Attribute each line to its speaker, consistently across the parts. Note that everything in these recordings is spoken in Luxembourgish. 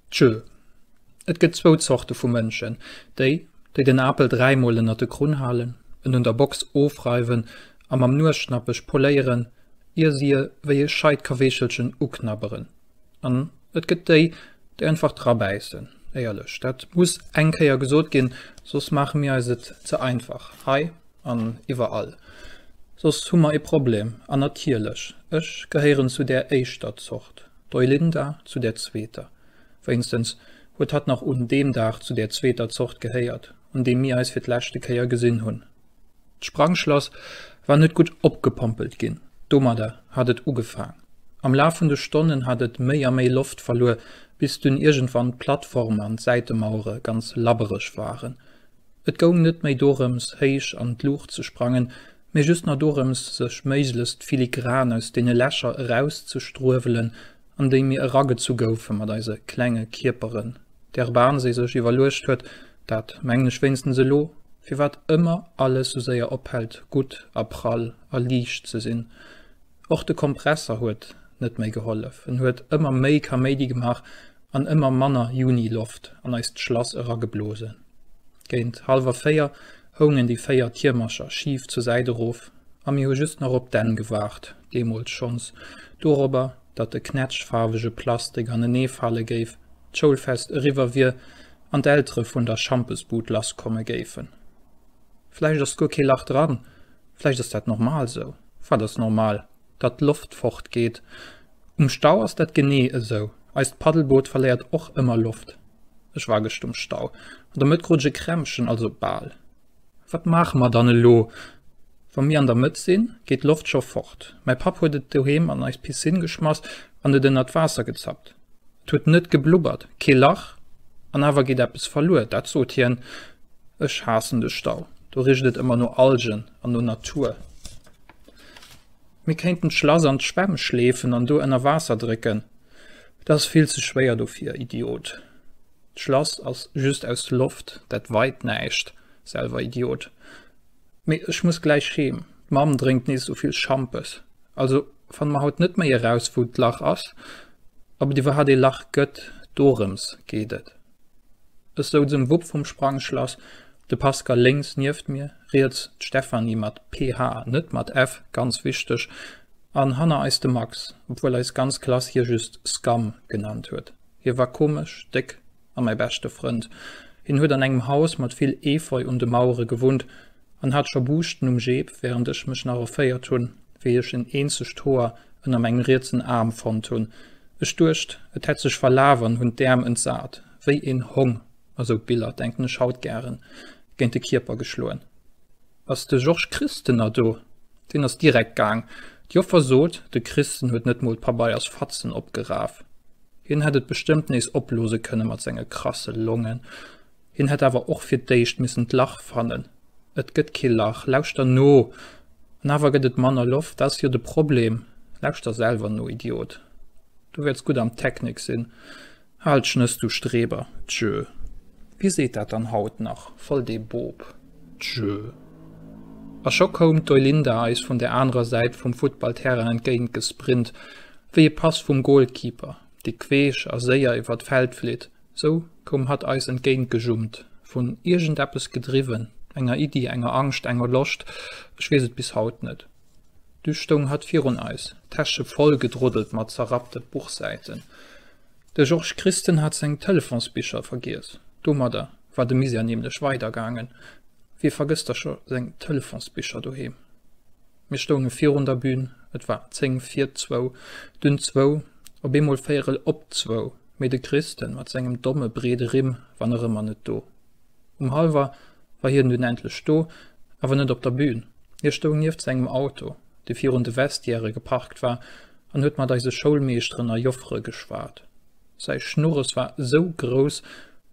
Speaker 1: Tjö. Et gëtt zwou Zorte vu Mënschen, déi, déi den Apel dräimol ënnert de Krunn halen, en un der Box ofreiwen a mam Nuesschnappech poléieren, ier si e wéi e scheit Kaweechelchen uknabberen. An et gëtt déi, déi einfach drabäissen. Éierlech, dat muss eng Kéier gesot ginn, soss maache mir eis et ze einfach hei an iwwerall. Soss hu mer e Problem. An natierlech, ech gehéieren zu där éischter Zort, d'Eulinda zu där zweeter. Wéinstens huet hatt nach un deem Dag zu där zweeter Zort gehéiert, un deem mir eis fir d'leschte Kéier gesinn hunn. D'Sprangschlass war net gutt opgepompelt ginn, domadder hat et ugefaang. Am Laf vun de Stonnen hat et méi a méi Loft verluer, bis dunn iergendwann d'Plattform an d'Säitemauere ganz labbereg waren. Et goung net méi dorëms, héich an d'Luucht ze sprangen, mee just nach dorëms, sech méiglechst filigran aus deene Lächer erauszestruewelen, an déi mir eragezu goufe mat eise klenge Kierperen, där Bahn se sech iwwerluecht huet, dat mengen ech wéinstens elo, firwat ëmmer alles sou séier ophält gutt a prall a liicht ze sinn. Och de Kompresser huet net méi gehollef, en huet ëmmer méi Kaméidi gemaach an ëmmer manner Juni-Loft an eist Schlass erageblosen. Géint hallwer véier houngen déi véier Tiermercher schif zur Säit erof a mir hu just nach op d'Enn gewaart, deemools schonns dorobber, datt de knätschfaarwege Plastik anenee fale géif, d'Schoulfest eriwwer wier an d'Eltere vun der Schampesbud lass komme géifen. Vläicht ass guer kee Lach dran, vläicht ass dat normal sou. Wat ass normal? datt d'Loft fort geet. Um Stau ass dat genee esou, eist Paddelboot verléiert och ëmmer Loft. Ech war gëscht um Stau, an der Mëtt krut ech e Krämpchen, also bal. Wat maache mer dann elo? Wa mir an der Mëtt sinn, geet d'Loft scho fort. Mäi Papp huet et doheem an eis Piscine geschmass an et ënnert d'Waasser gezappt. Et huet net geblubbert, kee Lach, an awer geet eppes verluer, dat sot hien. Ech haassen de Stau, do richt et ëmmer no Algen an no Natur. Mir kéinten d'Schlass an d'Schwemm schleefen an do ënner Waasser drécken. Et ass vill ze schwéier dofir, Idiot. D'Schlass ass just aus Loft, dat weit näischt, selwer Idiot. Mee ech muss gläich heem, d'Mamm drénkt nees sou vill Schampes. Also fanne mer haut net méi eraus, wou d'Lach ass, ob et iwwerhat ee Lach gëtt, dorëms geet et. Ech souz um Wupp vum Sprangschlass, de Pascal lénks nieft mir, riets d'Stéphanie, mat PH, net mat F, ganz wichteg, an hanner eis de Max, obwuel eis ganz Klass hie just Scam genannt huet. Hie war komesch, déck a mäi beschte Frënd. Hien huet an engem Haus mat vill Efeu un de Mauere gewunnt. an hat scho Buuschten um Jeep, während ech mech nach erféiert hun, wéi ech en eenzegt Hoer ënner mengem rietsen Aarm fonnt hun. Ech duecht, et hätt sech verlaf an hun d'Äerm entsat, wéi en Hong, a sou Biller denken ech haut gären, géint de Kierper geschloen. Ass de Georges Christen na do? Deen ass direkt gaang. D'Joffer sot, de Christen huet net mol d'Pabeiersfatzen opgeraf. Hien hätt et bestëmmt nees oplose kënne mat senge krasse Longen. Hien hätt awer och fir d'éischt missen d'Lach fannen. Et gëtt kee Lach, lauschter no! An awer gëtt et manner Loft, dat ass jo de Problem. Lauschter selwer no, Idiot! Du wäerts gutt am Technik sinn. Hal d'Schnëss, du Streber! Tjö! Wie seet dat dann haut nach? Voll dee Boob! Tjö! A scho koum d'Olinda eis vun der anerer Säit vum Futtballterrain entgéint gesprint, wéi e Pass vum Golkeeper, dee queesch a séier iwwer d'Feld flitt, Sou koum hatt eis entgéint gejummt, vun iergend eppes gedriwwen, enger Iddi, enger Angscht, enger Loscht, ech weess et bis haut net. Du stoung hatt virun eis, d'Täsche voll gedroddelt mat zerrappte Buchsäiten. De Georges Christen hat seng Telefonsbicher vergiess, domadder war de Misère nämlech weidergaangen, wie vergësst da scho seng Telefonsbicher doheem? Mir stounge virun der Bühn, et war zéng vir zwou, dunn zwou, op eemol véierel op zwou, mee de Kristen mat sengem domme breede Rimm war nach ëmmer net do. Um Hallwer war hien dunn endlech do, awer net op der Bühn. Hie stoung nieft sengem Auto, dee virun de Vestiairë geparkt war, an huet mat eise Schoulmeeschteren a Joffere geschwat. Säi Schnurres war esou grouss,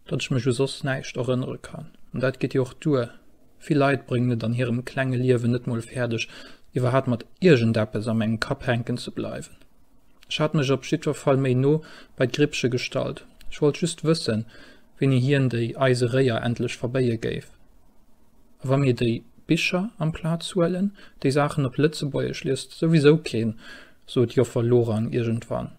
Speaker 1: datt ech mech u soss näischt erënnere kann, an dat geet jo och duer. Vill Leit bréngen et an hirem klenge Liewen net mol fäerdeg, iwwerhat mat iergendeppes am engem Kapp hänken ze bleiwen. Ech hat mech op jiddwer Fall méi no bei d'Grippche gestallt. Ech wollt just wëssen, wéini hien déi eise Réier endlech verbéie géif. A wa mir déi Bicher amplaz huelen, déi Saachen op Lëtzebuergesch liest souwisou keen, sot Joffer Lorang iergendwann.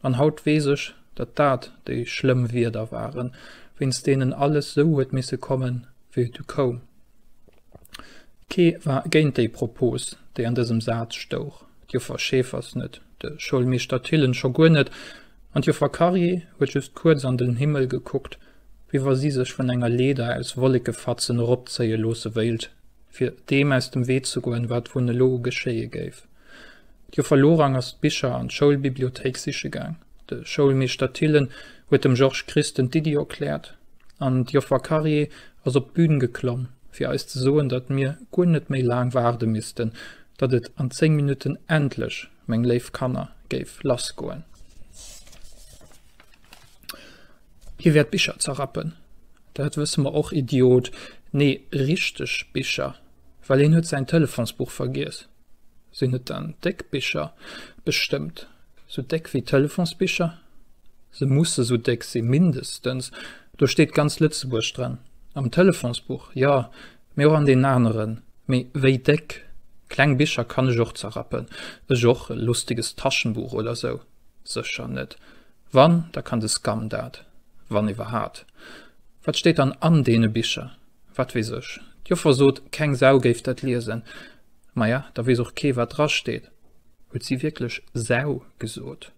Speaker 1: An haut weess ech, datt dat déi schlëmm Wierder waren, wéinst deenen alles sou huet misse kommen, wéi et du koum. Kee war géint déi Propos, déi an dësem Saz stouch, d'Joffer Schäfers net, de Schoulmeeschter Thillen scho guer net, an d'Joffer Carrier huet just kuerz an den Himmel gekuckt, wéi wa si sech vun enger Leeder aus Wollekefatzen eropzéie loosse wéilt, fir deem aus dem Wee ze goen, wat wunn elo geschéie géif. D'Joffer Lorang ass d'Bicher an d'Schoulbibliothéik siche gaang. De Schoulmeeschter Thillen huet dem Georges Christen d'Iddi erkläert an d'Joffer Carrier ass op d'Bün geklomm, fir eis ze soen, datt mir guer net méi laang waarde missten, datt et an zéng Minutten endlech, meng léif Kanner, géif lass goen. Hie wäert Bicher zerrappen. Dat wësse mer och, Idiot! Nee, richteg Bicher, well hien huet säin Telefonsbuch vergiess. Sinn et dann déck Bicher? Bestëmmt. Sou déck wéi Telefonsbicher? Se musse sou déck si mindestens. Do steet ganz Lëtzebuerg dran. Am Telefonsbuch, jo, mee och an deenen aneren. Mee wéi déck? Kleng Bicher kann ech och zerrappen. Ech och. E lustiges Taschenbuch oder sou? Sécher net. Wann, da kann de SCAM dat. Wann iwwerhaat. Wat steet dann an deene Bicher? Wat weess ech. D'Joffer sot, keng Sau géif dat liesen. Maja, da weess och kee wat dra steet. Huet si wierklech Sau gesot?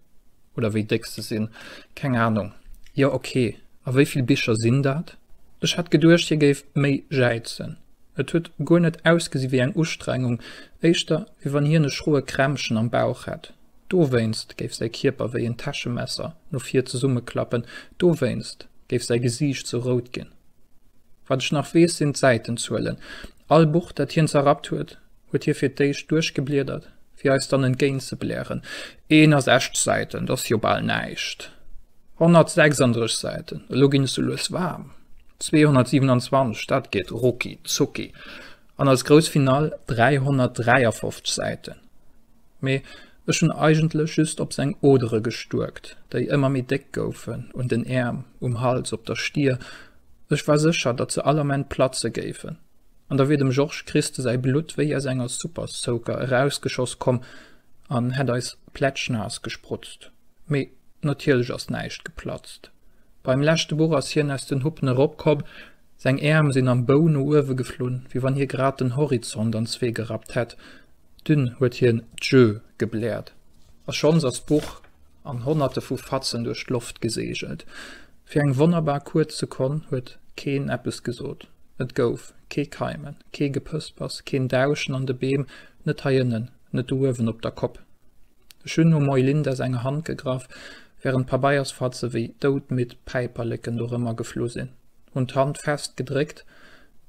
Speaker 1: Oder wéi déck se sinn? Keng Anung. Jo ok, a wéi vill Bicher sinn dat? Ech hat geduecht hie géif méi jäizen. Et huet guer net ausgesi wéi eng Ustrengung, éischter wéi wann hien e schroe Krämpchen am Bauch hätt. Dowéinst géif säi Kierper wéi en Täschemesser no vir zesummeklappen, dowéinst géif säi Gesiicht sou rout ginn. Wat ech nach weess, sinn d'Säitenzuelen. All Buch, dat hien zerrappt huet, huet hie fir d'éischt duerchgebliedert, fir eis dann entgéint ze blären, 61 Säiten, dat ass jo bal näischt! 136 Säiten, elo ginn ech sou lues waarm! 227, dat geet rucki zucki! An als grouss Finale 353 Säiten! Mee Ech hunn eigentlech just op seng Odere gestuerkt, déi ëmmer méi déck goufen, un den Äerm, um Hals, op der Stier, ech war sécher, datt se all Ament platze géifen, an da wier dem Georges Christe säi Blutt wéi aus enger Super-Soaker erausgeschoss komm an hätt eis plätschnaass gesprutzt. Mee natierlech ass näischt geplatzt. Beim leschte Buch ass hien aus den Huppen eropkomm, seng Äerm sinn am Bou no uewe geflunn, wéi wann hie grad den Horizont an zwee gerappt hätt, Dunn huet hien Djö gebläert a schonns ass d'Buch an Honnerte vu Fatzen duerch d'Loft geseegelt. Fir eng wonnerbar kuerz Sekonn huet keen eppes gesot. Et gouf kee Keimen, kee Gepëspers, keen Dauschen an de Beem, net hei ënnen, net do uewen op der Kopp. Ech hunn um Eulinda senger Hand gegraff, wärend Pabeiersfatze wéi doudmidd Päiperleken do rëm a geflu sinn, hunn d'Hand fest gedréckt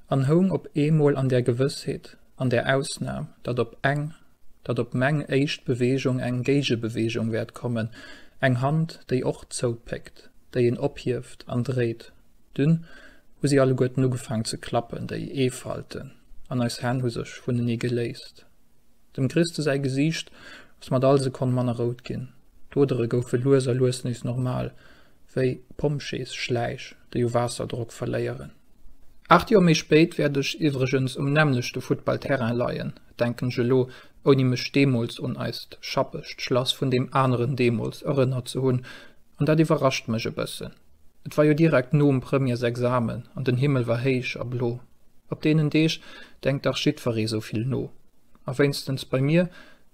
Speaker 1: an houng op eemol an der Gewëssheet, an der Ausnahm, datt op eng, datt op meng éischt Bewegung eng Géigebewegung wäert kommen, eng Hand, déi och zoupéckt, déi een ophieft an dréit, dunn hu si alleguerten ugefaang ze klappen, déi Eefalten an eis Hänn hu sech vunenee geléist. Dem Christe säi Gesiicht ass mat all Sekonn manner rout ginn, d'Odere goufe lues a lues nees normal. wéi Pompjeesschläich, déi u Waasserdrock verléieren. Aacht Joer méi spéit wäert ech iwwregens um nämmlechte Futtballterrain leien, denken ech elo, ouni mech deemools un eist schappegt Schlass vun deem aneren deemools erënnert ze hunn. An dat iwwerrascht mech e bëssen. Et war jo direkt nom Premièresexamen an den Himmel war héich a blo. Op deenen Deeg denkt dach jiddweree souvill no. A wéinstens bei mir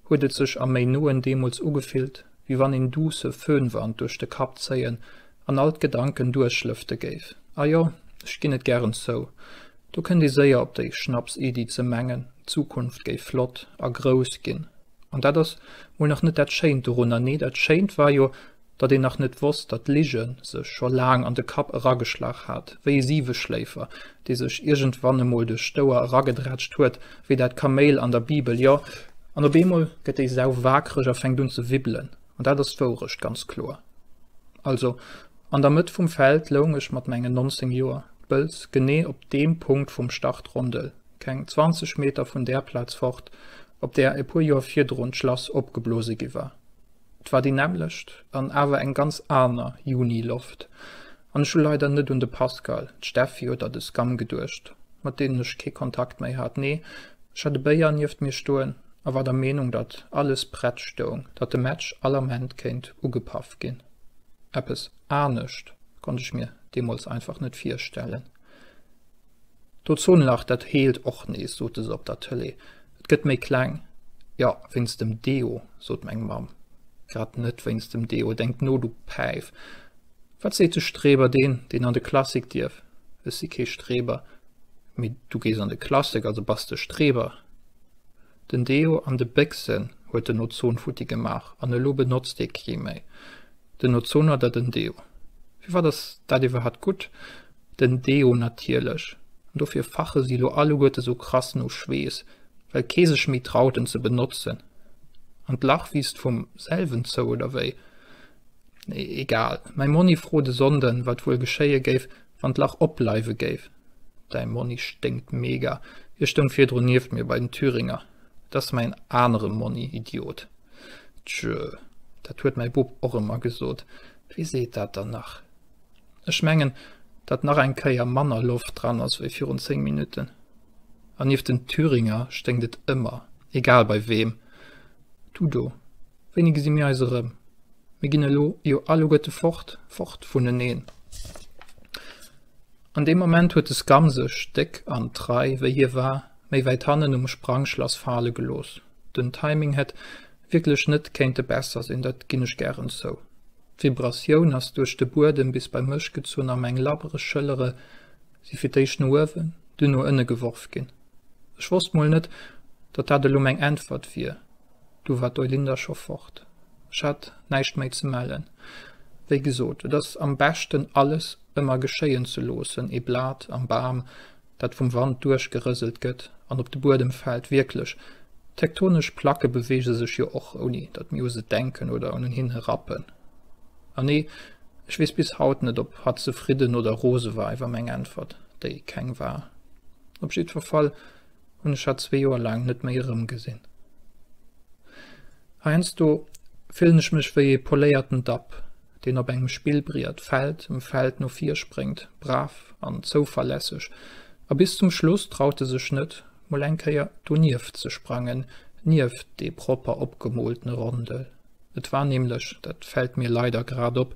Speaker 1: huet et sech am méi noen deemools ugefillt, wéi wann een duusse Föhnwand duerch de Kapp zéien an all d'Gedanken duerchlëfte géif. A jo, ech ginn et gären zou, do kënnt ee séier op déi Schnapsiddi ze mengen, d'Zukunft géif flott a grouss ginn. An dat ass mol nach net dat Schéint dorunner. Nee, dat Schéint war jo, datt een nach net wosst, datt d'Lige sech scho laang an de Kapp erageschlag hat, wéi e Siweschléifer, dee sech iergendwann emol duerch d'Ouer eragedrätscht huet, wéi dat Kaméil an der Bibel, jo, an op eemol gëtt déi Sau waakreg a fänkt un ze wibbelen, an dat ass d'Wourecht, ganz kloer. Also, an der Mëtt vum Feld loung ech mat mengen 19 Joer, d'Bëlz, genee op deem Punkt vum Start-Rondel, keng 20 Meter vun där Plaz fort, op där e puer Joer virdrun d'Schlass opgeblose gi war. Et war déi nämmlecht an awer eng ganz aner Juni-Loft. An ech hu leider net un de Pascal, d'Steffi oder de Scam geduecht, mat deenen ech kee Kontakt méi hat. Nee, ech hat e Béier nieft mir stoen a war der Meenung, datt alles prett stoung, datt de Match all Ament kéint ugepaff ginn. Eppes anescht konnt ech mir deemools einfach net virstellen. D'Ozonlach, dat heelt och nees, sote se op der Tëlee. Et gëtt méi kleng. Jo, wéinst dem Deo, sot meng Mamm. Grad net wéinst dem Deo, denkt no, du Päif! Wat seet de Streber, deen, deen an de Klassik dierf? Ech si kee Streber. Mee du gees an de Klassik, also bass de Streber. Den Deo an de Béchsen huet den Ozon futti gemaach an elo benotzt ee kee méi den Ozon oder den Deo. Firwat ass dat iwwerhat gutt? Den Deo natierlech. An dofir fache si lo alleguerte sou krass no Schweess, well kee sech méi traut en ze benotzen. An d'Lach wiisst vum selwen zou, oder wéi? Egal, mäi Monni frot e Sonnden, wat wuel geschéie géif, wann d'Lach opbleiwe géif. Däi Monni sténkt mega. Hie stoung virdrun nieft mir bei den Thüringer. Dat ass mäin anere Monni, Idiot. Tjö, dat huet mäi Bub och ëmmer gesot. Wie seet dat dann nach? Ech mengen, datt nach eng Kéier manner Loft dran ass wéi virun 10 Minutten. An nieft den Thüringer sténkt et ëmmer, egal bei weem. Du do, wéini gesi mir eis erëm? Mir ginn elo jo alleguerte fort, fort vuneneen. An deem Moment huet de Scum sech, déck an trei wéi hie war, méi wäit hannen um Sprangschlass fale gelooss. Den Timing hätt wierklech net kéinte besser sinn, dat ginn ech gären zou. D'Vibratioun ass duerch de Buedem bis bei mech gezunn a meng labbreg Schëllere si fir d'éischt no uewen, dunn no ënne geworf ginn. Ech wosst mol net, datt dat elo meng Äntwert wier. Du war d'Eulinde scho fort. Ech hat näischt méi ze mellen. Wéi gesot, et ass am beschten alles ëmmer geschéien ze loossen, ee Blat am Bam, dat vum Wand duerchgerëselt gëtt an op de Buedem fält. Wierklech, tektonesch Placke beweege sech jo och, ouni datt mir u se denken oder un hinne rappen. An nee, ech weess bis haut net, ob hatt zefridden oder rose war iwwer meng Äntwert, déi keng war. Op jiddwer Fall, hunn ech hatt zwee Joer laang net méi erëmgesinn. Heiansdo fillen ech mech wéi ee poléierten Dapp, deen op engem Spillbriet Feld ëm Feld no vir spréngt, brav an zouverlässeg, a bis zum Schluss traut e sech net, mol eng Kéier donieft ze sprangen, nieft dee propper opgemooltene Rondel. Et war nämlech, dat fält mir leider grad op,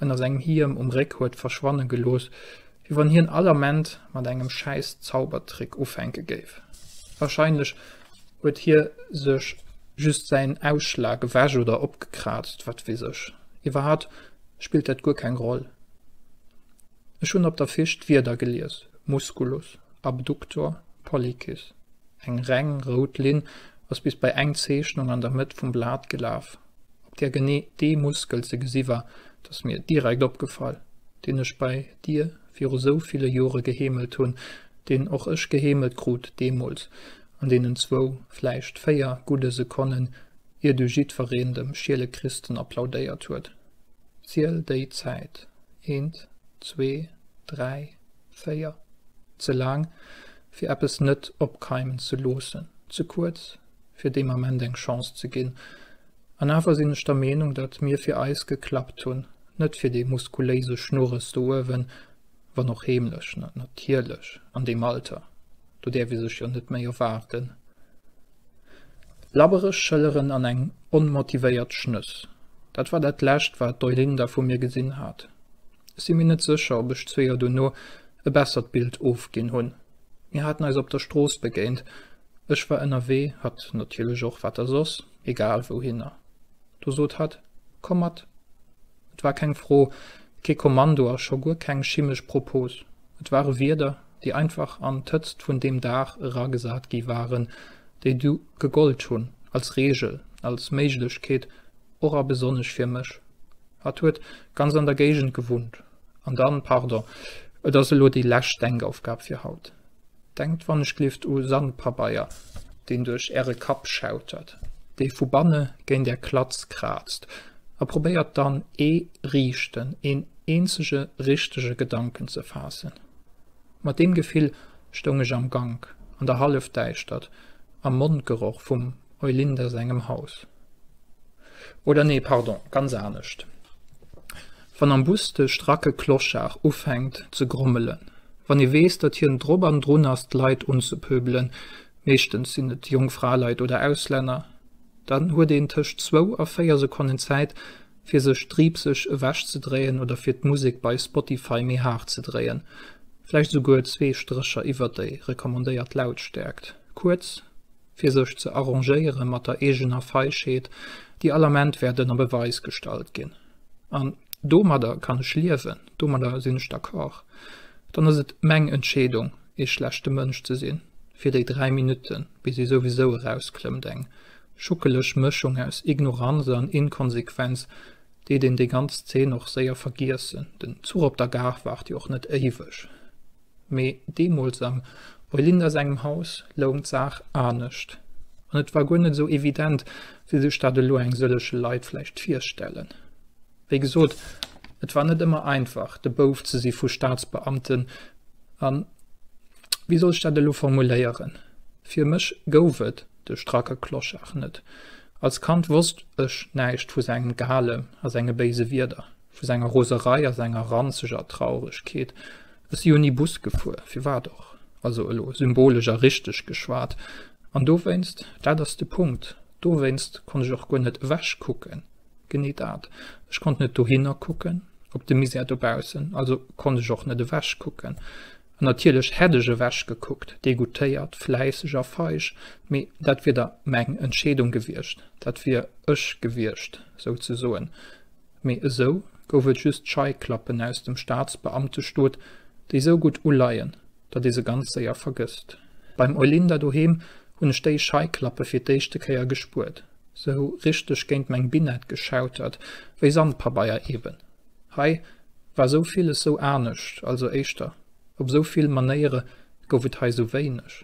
Speaker 1: ënner sengem Hiem um Réck huet verschwanne gelooss, wéi wann hien all Ament mat engem schäiss Zaubertrick ufänke géif. Warscheinlech huet hie sech just säin Ausschlag ewech oder opgekraazt, wat weess ech. Iwwerhat spillt dat guer keng Roll. Ech hunn op der Fisch d'Wierder gelies, Musculus, Abductor, Pollicis. Eng reng rout Linn ass bis bei eng Zeechnung an der Mëtt vum Blat gelaf. Op där genee dee Muskel ze gesi war, dat ass mir direkt opgefall, deen ech bei dir viru sou ville Jore geheemelt hunn, deen och ech geheemelt krut deemools, an deenen zwou, vläicht véier gudde Sekonnen, ier du jiddwereen dem Schielekriisten applaudéiert huet. Ziel déi Zäit, eent, zwee, dräi, véier. Ze laang, fir eppes net opkeimen ze loossen, ze kuerz, fir deem Ament eng Chance ze ginn. An awer sinn ech der Meenung, datt mir fir eis geklappt hunn, net fir dee muskuléise Schnurres do uewen, wann och heemlech, natierlech, an deem Alter, do däerf ee sech jo net méi erwaarden. Labbereg Schëlleren an eng onmotivéiert Schnëss, dat war dat Lescht, wat d'Eulinde vu mir gesinn hat. Ech si mir net sécher, ob ech zwee Joer dono e bessert Bild ofginn hunn. Mir haten eis op der Strooss begéint. Ech war ënnerwee, hatt natierlech och, wat da soss, egal wouhinner. Do sot hatt, Komm mat! Et war keng Fro, kee Kommando a scho guer keng chimesch Propose. Et ware Wierder, déi einfach an d'Hëtzt vun deem Dag eragesat gi waren, déi du gegollt hunn als Reegel, als Méiglechkeet, och a besonnesch fir mech. Hatt huet ganz an der Géigend gewunnt. An dann, pardon, et ass elo déi lescht Denkaufgab fir haut. Denkt wannechgelift u Sandpabeier, deen duerch Äre Kapp schautert, dee vu banne géint Är Klatz kraazt, a probéiert dann ee riichten, een eenzege richtege Gedanken ze faassen. Mat deem Gefill stoung ech am Gank, an der Hallefdäischtert, am Mondgeroch vum Eulinder sengem Haus. Oder nee, pardon, ganz anescht, Wann am Bus de stracke Clochard ufänkt ze grommelen, wann ee weess, datt hien drop an drun ass d'Leit unzepöbelen, meeschtens sinn et jonk Fraleit oder Auslänner, dann huet een tëscht zwou a véier Sekonnen Zäit, fir sech driipseg ewechzedréien oder fir d'Musek bei Spotify méi haart ze dréien, vläicht esouguer zwee Strécher iwwert déi recommandéiert Lautstäerkt. Kuerz. fir sech ze arrangéiere mat der eegener Feigheet, déi all Ament wäert ënner Beweis gestallt ginn, an domadder kann ech liewen, domadder sinn ech d'accord, dann ass et meng Entscheedung, ee schlechte Mënsch ze sinn, fir déi dräi Minutten, bis si souwisou erausklëmmt, eng schuckeleg Mëschung aus Ignoranz an Inkonsequenz, deet een déi ganz Zeen och séier vergiessen. Den Zuch op der Gare waart jo och net éiweg. Mee deemools am Eulinders engem Haus loung d'Saach anescht, an et war guer net esou evident, wéi sech dat elo eng sëlleche Leit vläicht virstellen. Wéi gesot, et war net ëmmer einfach, de Bouf ze si vu Staatsbeamten a, wéi soll ech dat elo formuléieren, fir mech gouf et de stracke Clochard net. Als Kand wosst ech näischt vu sengem Gehale a senge béise Wierder. Vu senger Roserei a senger ranzeger Trauregkeet, Ech si jo ni Bus gefuer, firwat och? Also elo symbolesch a richteg geschwat. An dowéinst, dat ass de Punkt, dowéinst konnt ech och guer net ewechkucken. Genee dat. Ech konnt net dohinner kucken, op de Misär dobaussen, also konnt ech och net ewechkucken. An natierlech hätt ech ewechgekuckt, degoûtéiert, fläisseg a feig, mee dat wier da meng Entscheedung gewiescht, dat wier ech gewiescht, souzesoen. Mee esou gouf et just Scheiklappen aus dem Staatsbeamtestot, déi esou gutt uleien, datt ee se ganz séier vergësst. Beim Eulinda doheem hunn ech déi Scheiklappe fir d'éischte Kéier gespuert, sou richteg géint meng Binett geschautert, wéi Sandpabeier eben. Hei war esou villes esou anescht, also éischter, op esou vill Manéiere gouf et hei esou wéineg.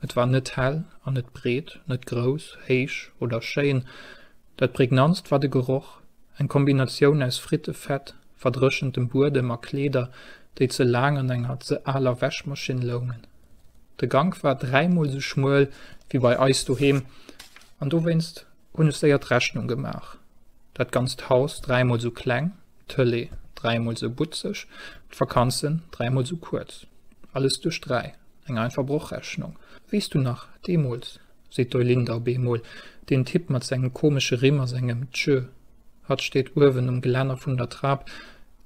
Speaker 1: Et war net hell an net breet, net grouss, héich oder schéin. Dat prägnantst war de Geroch, eng Kombinatioun aus Frittefett, verdréchentem Buedem a Kleeder, déi ze laang an enger ze aler Wäschmaschinn loungen. De Gank war dräimol sou schmuel wéi bei eis doheem an dowéinst hunn ech séier d'Rechnung gemaach, Dat ganzt Haus dräimol sou kleng, d'Tëlee dräimol sou butzeg, d'Vakanzen dräimol sou kuerz. Alles duerch dräi, eng einfach Brochrechnung, wéi s du nach deemools seet d'Eulinde ab eemol, deen Typ mat sengem komesche Rimm a sengem Tjö. Hatt steet uewen um Gelänner vun der Trap.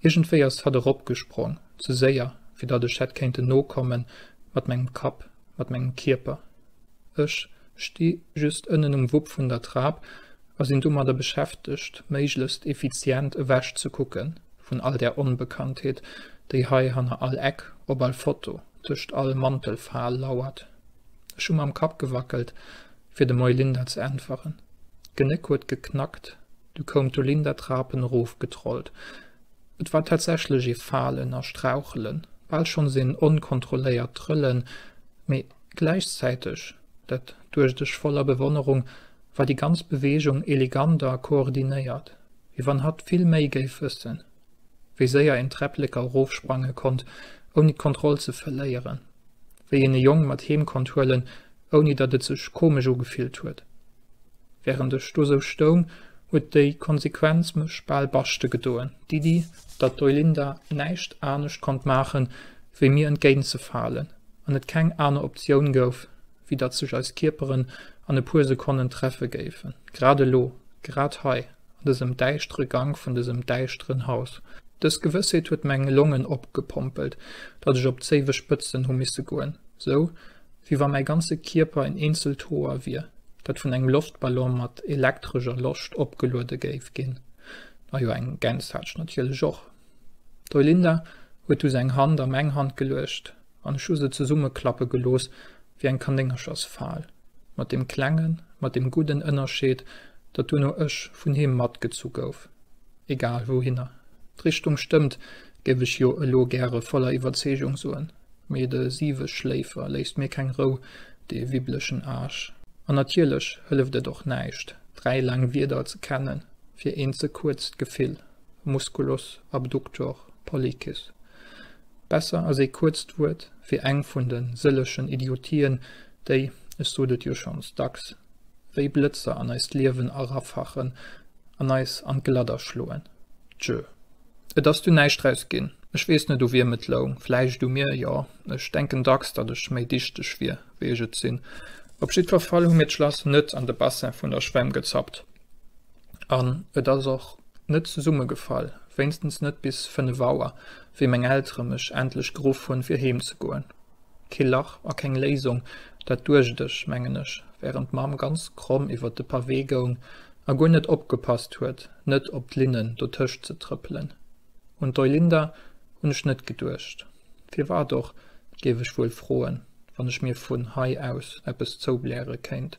Speaker 1: Iergendwéi ass hatt eropgesprong, ze séier, fir datt ech hätt kéinten nokommen, mat mengem Kapp, mat mengem Kierper. Ech sti just ënnen um Wupp vun der Trap a sinn domadder beschäftegt, méiglechst effizient ewech ze kucke vun all där Onbekanntheet, déi hei hanner all Eck, op all Foto, tëscht all Mantelfal lauert. Ech hu mam Kapp gewackelt, fir dem Eulinda ze äntweren. D'Genéck huet geknackt, du koum d'Eulinda d'Trapen erof getrollt. Et war tatsächlech ee Falen a Strauchelen, bal schonns een onkontrolléiert Trëllen, mee gläichzäiteg, dat duecht ech voller Bewonnerung, war déi ganz Beweegung elegant a koordinéiert, wéi wann hatt vill méi géif wëssen. wéi séier een d'Träpplécker erof sprange konnt ouni d'Kontroll ze verléieren, wéi een e Jong mat heem konnt huelen ouni datt et sech komesch ugefillt huet. Während ech do sou stoung, huet déi Konsequenz mech bal baschte gedoen, d'Iddi datt d'Oilinda näischt anescht konnt maachen, wéi mir entgéint ze falen an et keng aner Optioun gouf, wéi datt sech eis Kierperen an e puer Sekonnen treffe géifen, grad elo, grad hei, an dësem däischtere Gank vun dësem däischteren Haus. Dës Gewëssheet huet meng Longen opgepompelt, datt ech op d'Zéiwe spëtzen hu misse goen, sou wéi wa mäi ganze Kierper en eenzelt Hoer wier, dat vun engem Loftballon mat elektrescher Loscht opgeluede géif ginn. A jo, eng Gäns hat ech natierlech och. D'Eulinde huet du seng Hand a meng Hand geluecht. An ech hu se zesummeklappe gelooss wéi eng Kanéngerchersfal, mat deem klengen, mat deem gudden Ënnerscheed, datt duerno ech vun heem matgezu gouf. Egal wouhinner. D'Richtung stëmmt, géif ech jo elo gäre voller Iwwerzeegung soen, mee de Siweschléifer léisst mir keng Rou, dee wibblechen Aarsch. An natierlech hëlleft et och näischt, dräi laang Wierder ze kennen fir een ze kuerzt Gefill, musculus abductor pollicis. Besser ass ee kuerzt Wuert wéi eng vun de sëllechen Idiotien, déi, ech sot et jo schonns dacks, wéi Blëtzer an eist Liewen erafachen an eis an d'Gladder schloen. Tjö. Et ass du näischt draus ginn. Ech weess net, u wiem et loung. Vläicht u mir, jo. Ech denken dacks, datt ech méi dichteg wier, wéi ech et sinn. Op jiddwer Fall hu mir d'Schlass net an de Bassin vun der Schwämm gezappt an et ass och net zesummegefall, wéinstens net bis fënnef Auer, wéi meng Eltere mech endlech geruff hunn, fir heem ze goen. Kee Lach a keng Léisung, dat duecht ech, mengen ech, wärend d'Mamm ganz kromm iwwert de Pavé goung a guer net opgepasst huet, net op d'Linnen dotëscht ze trëppelen. Un d'Eulinda hunn ech net geduecht. Firwat och, géif ech wuel froen, wann ech mir vun hei aus eppes zoubläre kéint?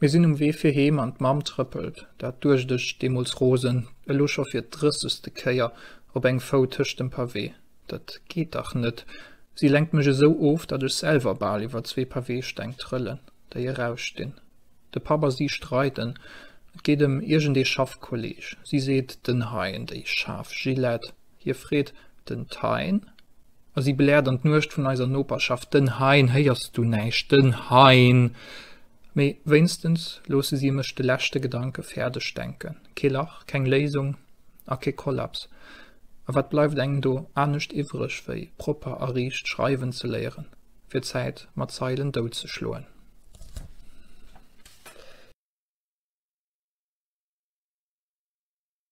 Speaker 1: Mir sinn um Wee fir heem an d'Mamm trëppelt, dat duecht ech deemools rosen, elo scho fir d'drëssegste Kéier op engem Fou tëscht dem Pavé. Dat geet dach net! Si lenkt mech esou of, datt ech selwer bal iwwer zwee Pavésteng trëllen, déi erausstinn. De Papp a si streiden, et geet ëm iergendee Schaffkolleeg. Si seet, Den Hein, déi schaarf Gillette! Hie freet den Thein a si bläert an d'Nuecht vun eiser Noperschaft, Den Hein, héiers du näischt, den Hein! Mee wéinstens loosse si mech de leschte Gedanke fäerdeg denken. Kee Lach, keng Léisung a kee Kollaps. A wat bleift engem do anescht iwwreg, wéi propper a riicht schreiwen ze léieren, fir d'Zäit mat Zeilen dout ze schloen?